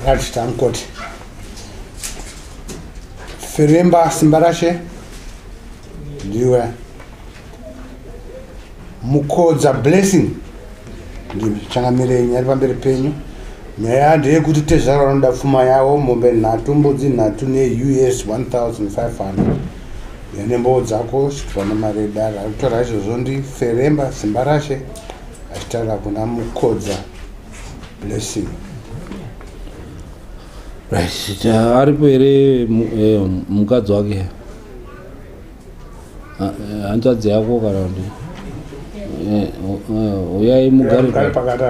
Right, I'm good. Firimba Simbarashe. ndiwe mukodza blessing ndichangamirenyi ari pamberi penyu nyaya ndeyekuti tezvara vanoda pfuma yavo mombe nhatu mbudzi nhatu neus 1500 yane mboo dzako chitwa nemari yedara ari kutaura izvozvo ndiferemba simba rashe achitaura kuna mukodza blessing aripo here eh, mukadzi wake Ah, eh, hanzvadzi yako kana kuti eh, eh, uyai mugare pakata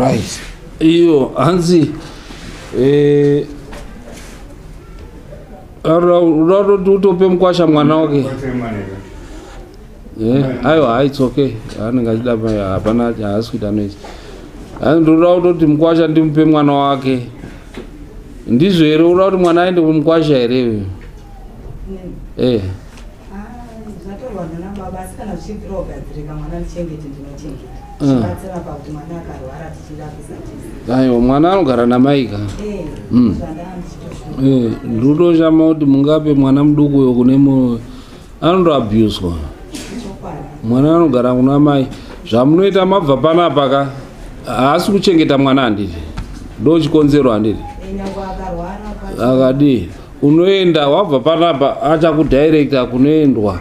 right iyo hanzi eh, raroti utope mukwasha mwana wake eh, aiwa haits okay anenge achida hapana haasi kuita noise hanzi ndoda kutoti mukwasha ndimupe mwana wake ndizvo here uda kuti mwana aende kumukwasha here uyo eh. zvatorwa nana baba asi kana zvichibvira kugadzirika mwana ndichengete ndinochengeta mm. zvibatsira pakuti mwana akarwara tichirapisa tese aiwa mwana anogara namai ka eh, mm. eh, ndinotoshama kuti mungape mwana muduku uyo kune mu anotoabuswa mwana anogara kuna mai zvamunoita mabva panapa ka haasi kuchengeta mwana handiti ndochikonzero handiti eh, akadii unoenda wabva panapa achakudirecta kunoendwa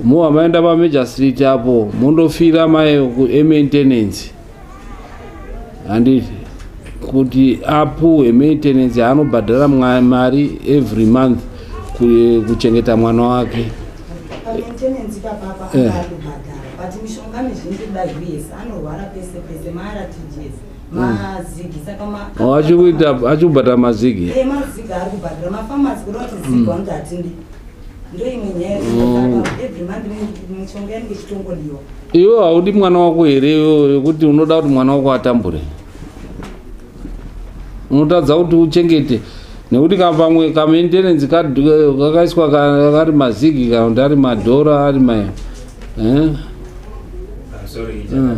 moa maenda pamajor street apo mondofira mai kuemaintenance handiti kuti apuhwe maintenance anobhadhara mari every month kuchengeta mwana wake eh. mazigi saka oh, achikuita achikubhadhara mazigi e eh, mazigi ari kubhadhara mafamasi kuda kuti zigi mm. wanoti hatindi ndoimwe nyaya mm. every month mishonga yanenge ichitongodiwa iwe haudi mwana wako here yekuti unoda kuti mwana wako atambure unotadza kuti uchengete nekuti kapamwe kamaintenance kakaiswa kari mazigi kana kuti ari madhora ari ma eh? ah, sorry, mm.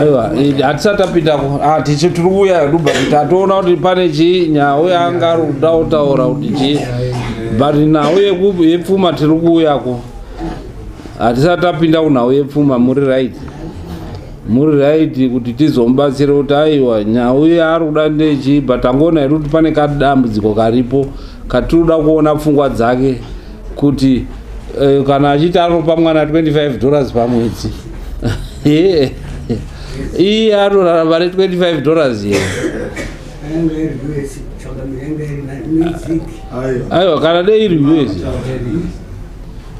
aiwa eh, hatisati tapinda ah, tichi tiri kuuya duba kuti atoona kuti pane chii nhau yaanga ari kuda kutaura kuti chii but nhau yepfuma tiri kuuya ku hatisati tapinda kunhau yepfuma muri right muri right kuti tizomubatsira kuti aiwa nhau yaari kuda ndechii but angoona here kuti pane kadambudziko karipo katiri kuda kuona pfungwa dzake kuti eh, kana achiti anopa mwana 25 dollars pamwedzi iye anorarama ne 25 dollars ye aiwa kana dei iri us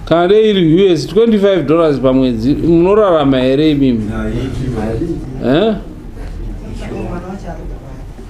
kana dei iri us 25 dollars pamwedzi munorarama here imimi eh?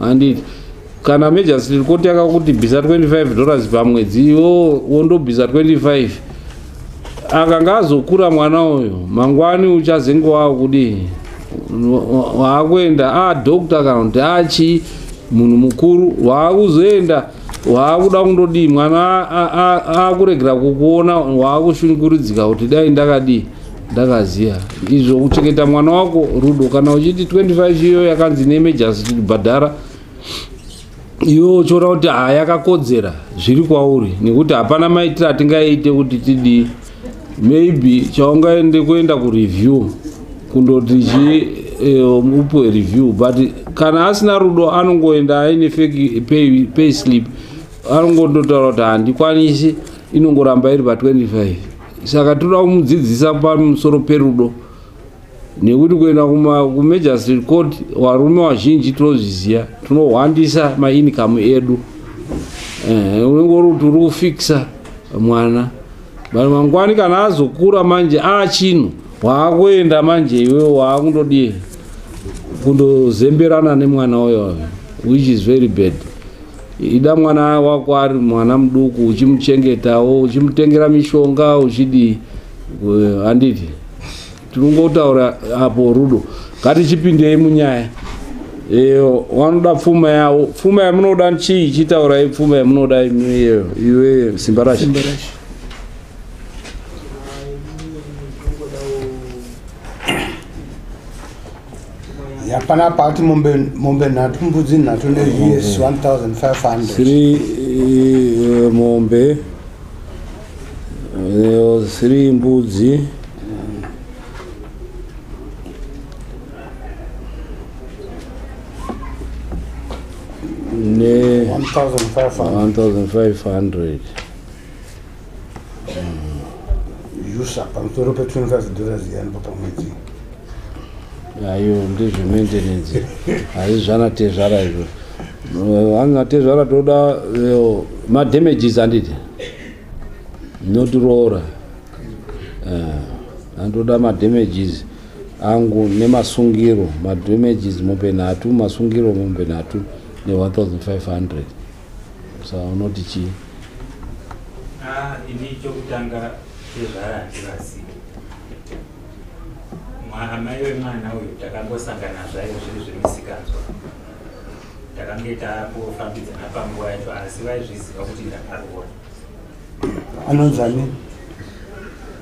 handiti kana majestry court yakakutibvisa 25 dollars pamwedzi iwo wondobvisa 25 akanga azokura mwana uyo mangwani uchazenge wava kudii waakuenda adoctor ah, kana kuti achii ah, munhu mukuru waakuzoenda waakuda kundodii mwana akuregera kukuona waakushunguridzika kuti dai ndakadii ndakaziva izvo kuchengeta mwana wako rudo kana uchiti 25 iyo yakanzi neemergency tichibhadhara iwe uchiona kuti haa yakakodzera zviri kwauri nekuti hapana maitiro atingaite kuti tidii maybe chaungaende kuenda kureview kundoti chi eh, upiwe review but kana asina rudo anongoenda aine fake pay, pay slip anongondotaura kuti handikwanisi inongoramba iri pa 25 saka toda kumudzidzisa pamusoro perudo nekuti kuenda kumagistrate court varume vazhinji tinozviziva tinohwandisa mainikamu edu eh, unenge uri kuti uri kufikisa mwana vanhu mangwani kana azokura manje achinhu waakuenda manje iwe waakundodii kundozemberana nemwana uyo which is very bad ida mwana wako ari mwana muduku uchimuchengetawo uchimutengera mishonga uchidii Eh, handiti tinongotaura apo rudo ngatichipindei munyaya iyo wanoda pfuma yawo pfuma yamunoda chii chitaurai pfuma yamunoda imi iyo iwe simba rashe yapana pakati mombe mombe nhatu mbudzi nhatu ne yes 1500 siri eh, mombe eh, siri mbudzi ne 1500 yusa pamusoro pe 25 dollars yanipa pamwedzi ayo ndizve maintenance haizvana tezvara izvo anga tezvara toda eh, madamages handiti notiroora eh, andoda madamages angu nemasungiro madamages mombe nhatu masungiro mombe nhatu ne 1500 sa unoti chii ah, ini chokutanga chezvara handivazivi amai vemwana uyu takangosangana zvayo zviri zvemisikanzwa takange tangofambidzana panguva yacho asi vaizviziva kuti ndakaroora anonzani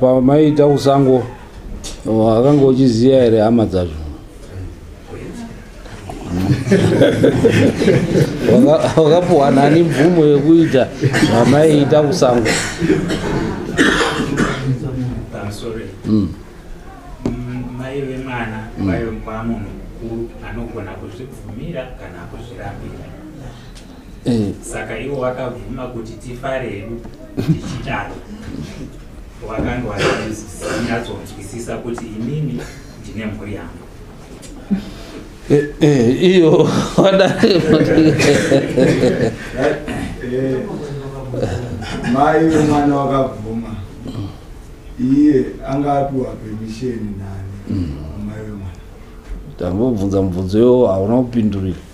pamaita pa kusango akanga oh, uchiziva here hama dzacho wakapuhwa nani mvumo yekuita zvamaiita kusango mm. mai vemwana mm. vaive mukwamunhu mukuru anogona kuzvibvumira kana kuzvirambira eh. saka ivo vakabvuma kuti tifare hedu tichidaro wakanga wanyatsoonzwisisa kuti inini ndine mhuri yangu eh, eh, iyo mai vemwana wakabvuma iye anga apiwa pemisheni nani mm. mai vemwana tambobvunza mubvunzo yo hauna kupindurira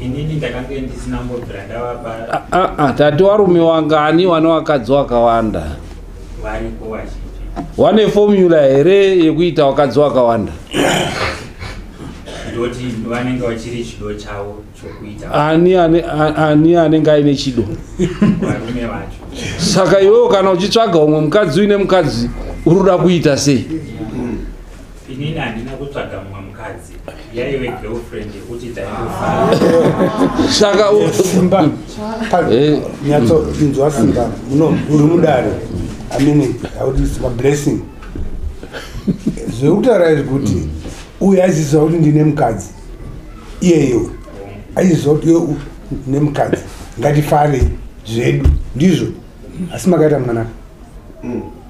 inini ndakange ndisina kumbobvira ndavapa Ah, ah, ah, tati warume wangani wane wakadzi wakawanda varipo vazhinji wane formula here yekuita wakadzi wakawanda ndoti vanenge vachiri chido chavo chokuita ani ane- a- ani anenge aine chido varume vacho saka iwewo kana uchitsvaga umwe mukadzi uine mukadzi uri kuda kuita sei Inini handina kutsvaga mumwe mukadzi yaive girlfriend yekuti taisaka simba eh. nyatsoinzwa simba muno uri mudare amene audisma blessing zvekutaura izvi kuti uyu aiziziva kuti ndine mukadzi iyeyo aiziziva kuti iwe ne mukadzi ngatifarei zvedu ndizvo asi makaita mwanaka mm.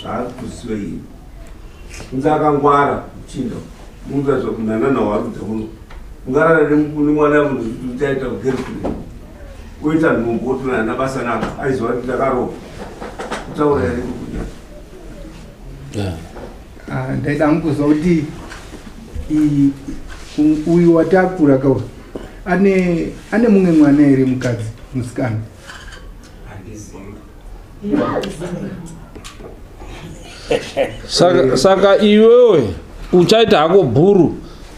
zvakuziva iyi kunze akangwara chinda munza zvakunanana warudza uno ungarara nemwana uchaita kugerikuda oita nhumbu otonana basa naka aiziva kuti ndakaroa kutaura yari kukuda ah, ndaida ngukuziva kuti uyu watakura kauri ane mumwe mwana here mukadzi musikana saka, saka iwewe uchaita hako bhuru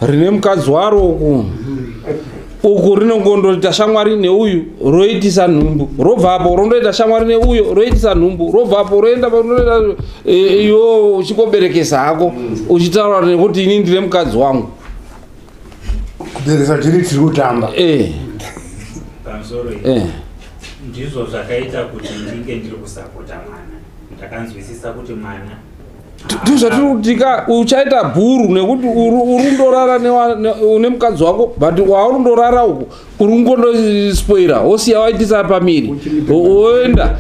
rine mukadzi waro uku uku rinongondoita shamwari neuyu roitisa nhumbu robva apo rondoita shamwari neuyo roitisa nhumbu robva apo roenda roenda e, e, iwo uchikoberekesa hako uchitaura nekuti ini ndine mukadzi wangu kuberesa tiri tiri kutamba eh. eh. ndizvo zvakaita kuti ndinge ndiri kusapota mwana ndakanzwisisa kuti mwana ndizvatirikutika uchaita bhuru nekuti urundorara une mukadzi wako but waurundorara uku uri kungondospoira wosiya waitisa pamiri woenda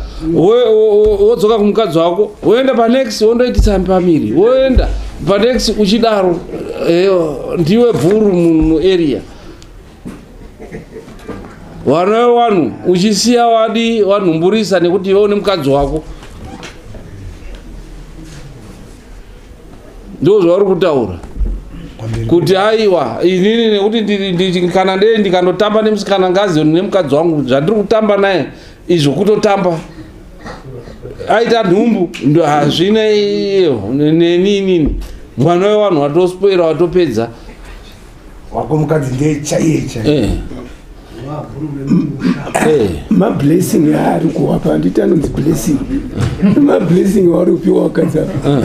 wodzoka kumukadzi wako woenda panext wondoitisa pamiri woenda panext uchidaro eh, ndiwe bvuru muarea vana vanhu uchisiya wadi wanhumburisa nekuti iwe une mukadzi wako ndo zvauri kutaura kuti aiwa inini nekuti kana ndee ndikandotamba nemusikana ngazioni nemukadzi wangu zvandiri kutamba naye izvo kutotamba aita nhumbu ndo hazvina neni inini mwana wevanhu watospoera watopedza wako mukadzi ndiye chaiye chaiye eh. eh. mablessing aari kuwapa handiti anonzi blessing mablessing waari kupiwa wakadzi apa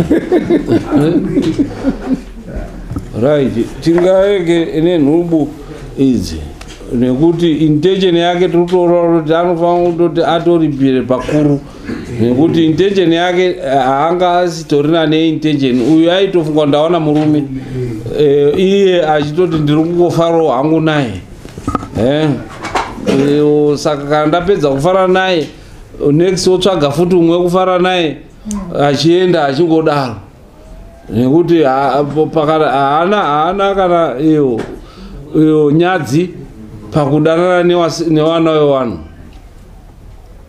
right tingaeke ine nhubu idzi nekuti intention yake tiri kutoona kuti anofanira kutoti atoripire pakuru nekuti intention yake eh, haanga asitorina neintention uyu aitofunga ndaona murume eh, iye achitoti ndiri kungofarawo hangu naye eh, saka kana ndapedza kufara naye next wotsvaga futi umwe kufara naye achienda achingodaro nekuti haana haana kana iyo iyo nyadzi pakudanana newana wewanhu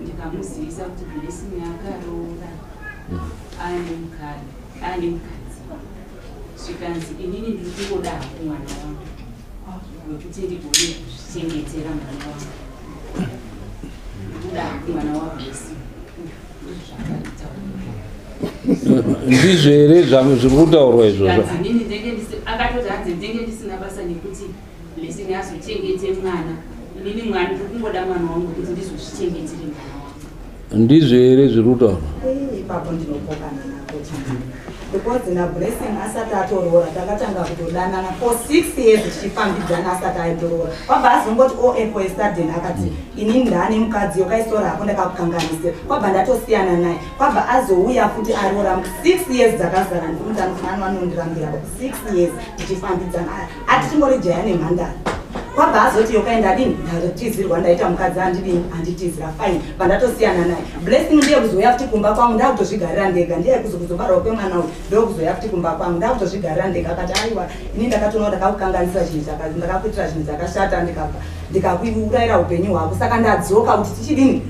ndikamuzivisa kuti blessing yakaroora mm. aane mukadzi aane mukadzi zvikanzi inini ndiri kungoda haku mwana wangu wekuti ndigone kuzvichengetera mwana wangu ndikuda haku mwana wablessing ndizvo here zviri kutaurwa izvozvo akatoti hanzi ndenge ndisina basa nekuti Blessing azochengete mwana inini mwari ndiri kungoda mwana wangu kuti ndizozvichengetire mwana wangu ndizvo here zviri kutaura ipapo ndinopokana nako because nablessing asati atoroora takatanga kutodanana for six years tichifambidzana asati aitoroora kwabva azongoti o oh, apple esaden akati inini ndaane mukadzi yokaisora hako ndakakukanganisira kwabva ndatosiyana naye kwabva azouya futi aroora six years dzakazara ndikumutanofanani vanondirambira six years tichifambidzana ati tingori jaya nemhandara kwabva azoti yokaenda adini ndatizirwa ndaita mukadzi andidini anditizira fine pandatosiyana naye blessing ndiye kuzouya futi kumba kwangu ndakutozvigarira ndega ndiye kuzokuzobarwa kwemwana uyu ndokuzouya futi kumba kwangu ndakutozvigarira ndega akati aiwa ini ndakatoona ndakakukanganisa zvinhu zvakazi ndakakuitira zvinhu zvakashata ndikabva ndikakuurayira upenyu hwako saka ndadzoka kuti tichidini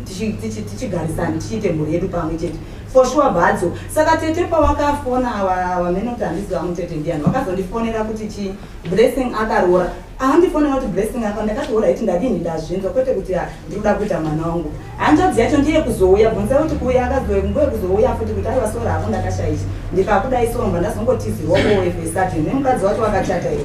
tichigarisani tichiite mhuri yedu pamwe chete For sure Badzo. Saka tete pawakafona awa wamene kuti handiziva wangu tete ndiani. Wakazondifonera kuti chi Blessing akaroora. Ahandifonera kuti Blessing akaroora. Ndakatoora iti ndadini ndazvinzwa kwete kuti ah, ndikuda kuita mwana wangu. Hanzvadzi yacho ndiye kuzouya bvunza kuti kuuya akazouya nguye kuzouya futi kuti aiwa sora hako ndakashaisha. Ndikakudai somba ndazongotizirwa kuwe fesati. Nemukadzi wacho wakachata iwe.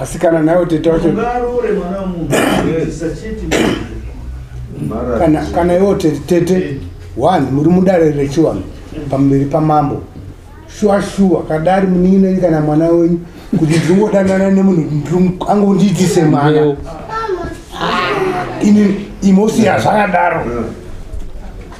asi kana nayo tete wacho kana kana iwo tete tete one muri mudare rechiwanhu pamberi pamambo shuwa shuwa kadari munin'inenyu kana mwana wenyu kuti ndiri kungodanana nemunhu angondiitise mwana ini imosi yazvakadaro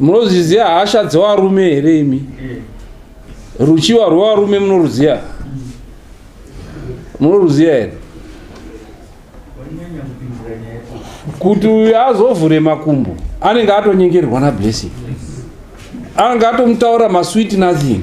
munozviziva hasha dzevarume here imi ruchiva rwevarume munoruziva munoruziva here kuti uyu azovhure makumbo anenge atonyengerwa nablessing anenge atomutaura masweet nothing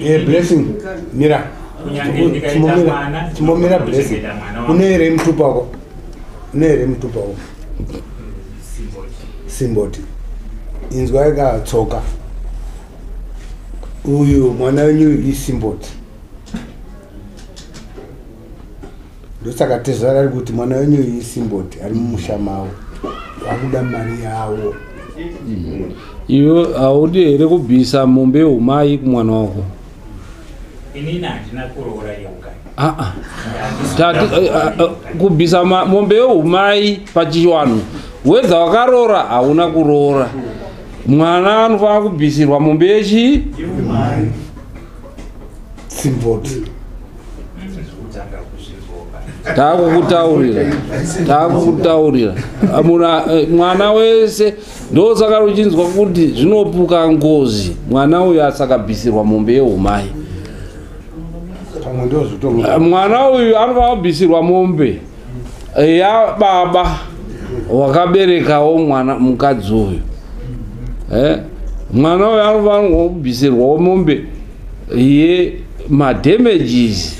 Eh, blessing mira chimbomira blessing une here mutupa wako une here mutupa wako simboti inzwa ikatsoka uyu mwana wenyu isimboti ndosaka tezvara ari kuti mwana wenyu iyi simboti ari mumusha mavo vakuda mari yavo mm. iwe haudi here kubvisa mombe yehumai kumwana wako inini handina kuroora yeuka aa kubvisa mombe yehumai pachiwanhu wedza wakaroora hauna kuroora mwana anofanira kubvisirwa mombe yechii simboti mm. taakukutaurira taakukutaurira eh, mwana wese ndosaka uchinzwa kuti zvinopuka ngozi mwana uyu asakabvisirwa mombe yeumai eh, mwana uyu anofanira kubvisirwa mombe ya baba wakaberekawo mwana mukadzi uyu eh? mwana uyo anofanirwa kubvisirwawo mombe ye madamages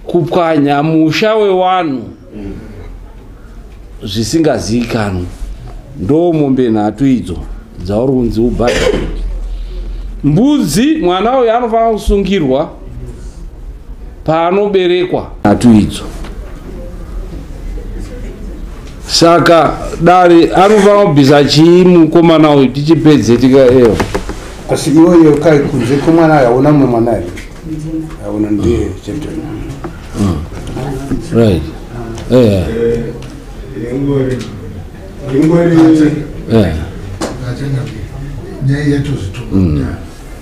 kupwanya musha wewanhu mm. zvisingazivikanwi ndo mombe nhatu idzo dzauri kunzi ubhadhare mbudzi mwana uyo anofanira kusungirwa paanoberekwa nhatu idzo saka dare anofanira kubvisa chii mukomana uyu tichipedze tika eo asi iweyo kai kunze kwemwana aona mumwe mwana aona ndiye chete mm. right eh, yeah. ingori ingori yeah. nyaya yatozvituma mm.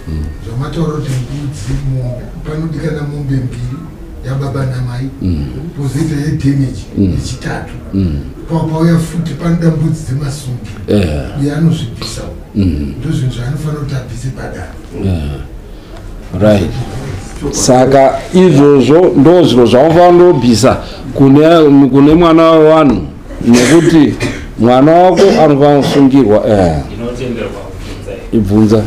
mm. zvamataura kuti mbudzi mombe panodikana mombe mbiri yababa namai mm. pozoita yedamage mm. yechitatu mm. pakauya futi panoda mbudzi dzemasungi uye anozvibvisawo ndozvinhu zvaanofanira kuti abvise padaro right saka izvozvo ndo zviro zvaunofana ndobvisa kune mwana wevanhu nekuti mwana wako anofana kusungirwa eh. ibvunza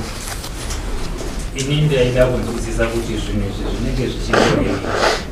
ini ndaida kunzwisisa kuti zvinhu izvi zvinenge zvichiiei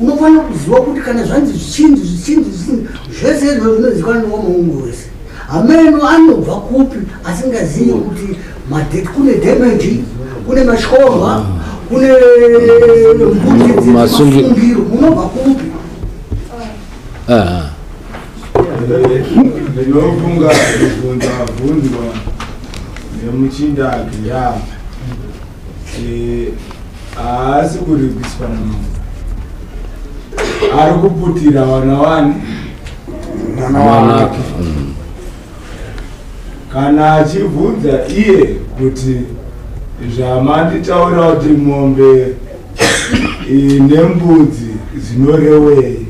unofanira kuziva kuti kana zvanzi zvichinzi zvichinzi zvichinzi zvese izvo zvinozivikanwa newamuungu wese hameno anobva kupi asingazivi kuti kune damage kune mashorwa kune mbutimasungiro munobva kupi ndinofunga kubvunza bvunzwa nemuchindaki ya haasi kuripiswa namambo ari kuputira vana wani mwana wanake mm. kana achibvunza iye kuti zvamanditaura kuti mombe nembudzi dzinorewei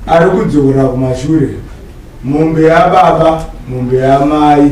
ari kudzokera kumashure mombe yababa mombe yamai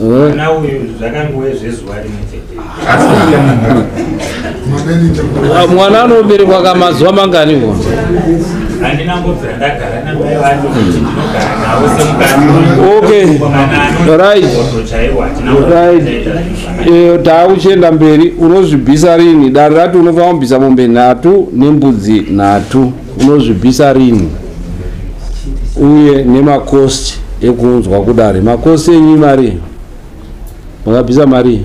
mwana uyu zvakangove zvezuva rimwe chete ah, mwana anoberekwa ka mazuva mangani ko handina mbobvira ndagara namai vacho kuti ndinogara navo semukaiaiyo taa uchienda mberi unozvibvisa rini dare rati unofanira kubvisa mombe nhatu nembudzi nhatu unozvibvisa rini uye nemakosti ekuunzwa kudare makosti enyu mari makabvisa mari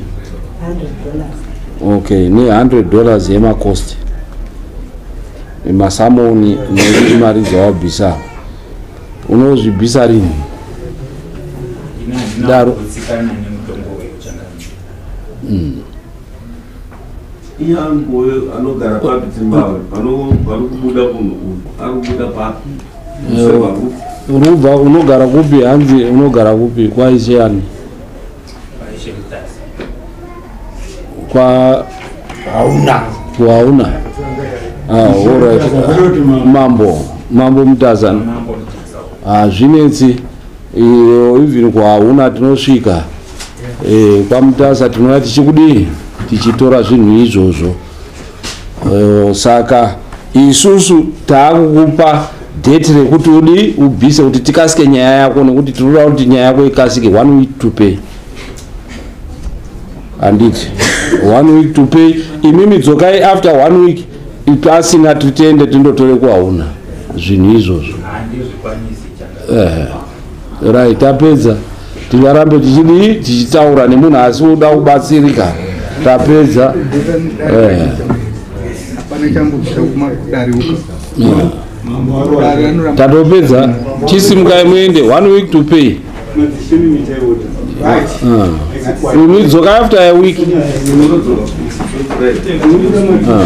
okay ne 100 dollars yemakosti masamoni nekuti mari dzawabvisa unozvibvisa rini daro mm. Iyangu uyo anogara papi Zimbabwe panokubuda munhu uyu akubuda papi unobva unogara kupi hanzi unogara kupi kwaishe ani kwa hauna hauna horit ah, mambo mambo mutazana hazvinetsi ah, iyo even kwahauna tinosvika Eh, kwamutasa tinova tichikudii tichitora zvinhu izvozvo eh, saka isusu taakukupa date rekuti udi ubvise kuti tikasike nyaya yako nekuti tinoda kuti nyaya yako ikasike one week to pay handiti one week to pay imimi dzokai after one week pasina titende tindotore kwauna zvinhu izvozvo ehe right tapedza tingarambe tichidii tichitaura nemunhu asi woda kubatsirika tapedza eh. tatopedza chisimukai muende one week to pay unidzoka ah. after a week ah.